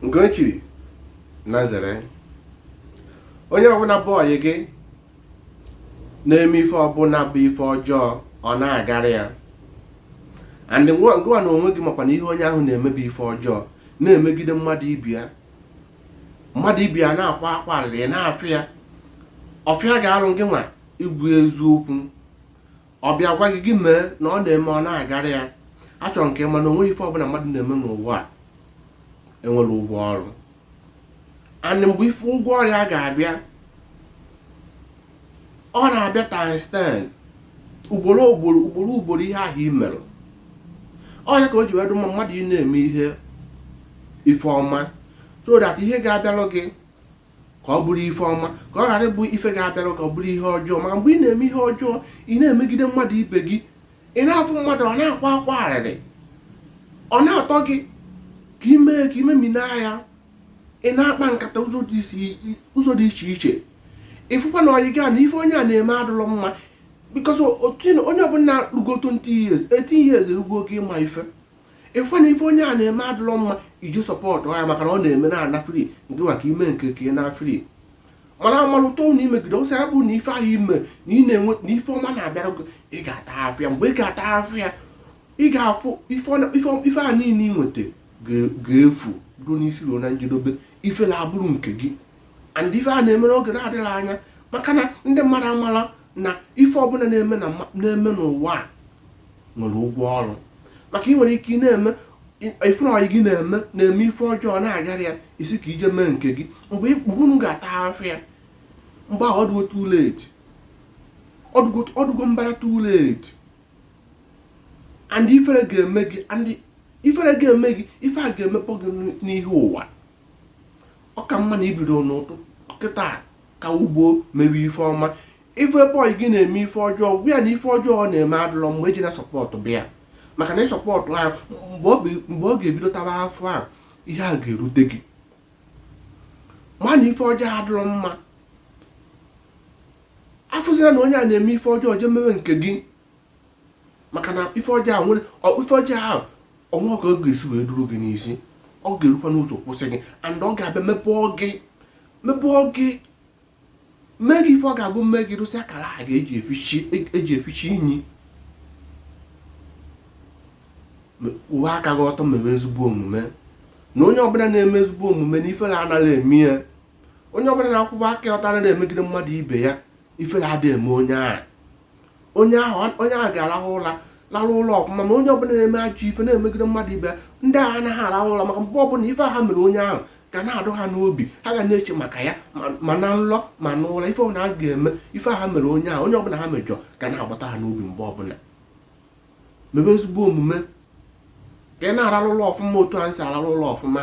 nke o chiri na zere onye ọbụla bụ ọyị gị na-eme ife ọbụla bụ ife ọjọọ ọ na-agara ya and gị nwa na onwe gị makwa na ihe onye ahụ na-eme bụ ife ọjọọ na-emegide mmadụ ibe ya mmadụ ibe ya na-akwa akwa arịrị na-afụ ya ọ fịa gị arụ gị nwa ikwu eziokwu ọ bịa gwa gị gị mee na ọ na-eme ọ na-agara ya achọrọ m ka ị ma na o nwere ife ọbụla mmadụ na-eme n'ụwa a enwere ụgwọ ọrụ and mgbe ife ụgwọ ọrụ ya ga-abịa ọ na-abịa times 10 ugboro ugboro ugboro ugboro ihe ahụ i mere ọ nya ka o ji wee dụ mma mmadụ ị na-eme ihe ife ọma so that ihe ga-abịalụ gị ka ọ bụrụ ife ọma ka ọ ghara ịbụ ife ga-abịara ka ọ bụrụ ihe ọjọọ ma mgbe ị na-eme ihe ọjọọ ị na-emegide mmadụ ibe gị ị na-afụ mmadụ ọ na-akwa akwa arịrị ọ na-atọ gị ka ị me ka ị memina ya ị na-akpa nkata ụzọ dị iche iche ị fụkwa na ọyị gị na ife onye a na-eme adụlọ mma because onye ọbụla rugo 20 years 18 years erugo oge ịma ife ị fụ na ife onye a na-eme adụlọ mma ị je support ya maka na ọ na-eme na-ana free nke maka ị me nke ka ị naa free mana amalụta ụnụ ị megide ọsọ ya bụ na ife ahụ ime na ị na-enwe na ife ọma na-abịara gị ị ga-ata afịa mgbe ị ga-ata afịa ị ga-afụ ife a niile ị nweta ga-efu ruo n'isi ruo na njedobe ifele abụrụ nke gị and ife a na-eme n'oge na-adịghị anya maka na ndị mmadụ amara na ife ọbụla a na-eme n'ụwa a nwere ụgwọ ọrụ maka ị nwere ike ị na-eme ife ọyị gị na-eme na-eme ife ọjọọ na-agara ya ị sị ka ị je mee nke gị mgbe unu ga-ata afịa mgbe ahụ ọ dụgo too late ọ dụgo mbara too late and ifere ga-eme gị ifere ga-eme gị ife a ga-emepọ gị n'ihu ụwa ọ ka mma na ị bido n'ụtụtụ kịta ka ugbo mewe ife ọma ị fụ ebe ọyị gị na-eme ife ọjọọ gwa ya na ife ọjọọ ọ na-eme adụlọ mma ejena supportụba ya maka na ị support ya mgbe ọ ga-ebido taba afịa ihe a ga-erute gị ma na ife ọjọọ adụlọ mma afụzila na onye a na-eme ife ọjọọ jee mewe nke gị maka na ife ọjọọ ahụ nwere ife ọjọọ ahụ o nwere ka ọ ga-esi wee duru gị n'isi ọ ga-erukwa n'ụzọ kwụsị gị and ọ ga-abịa mepụọ gị mepụọ gị mee gị ife ọ ga-abụ mme gị rụsị akara a ga-eji efichi inyi kwụwe aka gị ọtọ mebe ezigbo omume na onye ọbụla na-eme ezigbo omume na ifere anaghị eme ya onye ọbụla na-akwụba aka ọtọ anaghị emegide mmadụ ibe ya ifere adịghị eme onye ahụ onye ahụ onye ahụ ga-arahụ ụra larụ ụla ọfụma ma onye ọbụla na-eme ajọ ife na-emegide mmadụ ibe ya ndị ahụ anaghị arahụ ụra maka mgbe ọbụla ife ha mere onye ahụ ga na-adụ ha n'obi ha ga na-eche maka ya ma na nlọ ma na ụra ife ọbụla ha ga-eme ife ha mere onye ahụ onye ọbụla ha mejọ ga na-agbata ha n'obi mgbe ọbụla mebe ezigbo omume ka ị na-ararụ ụla ọfụma otu anyị si ararụ ụla ọfụma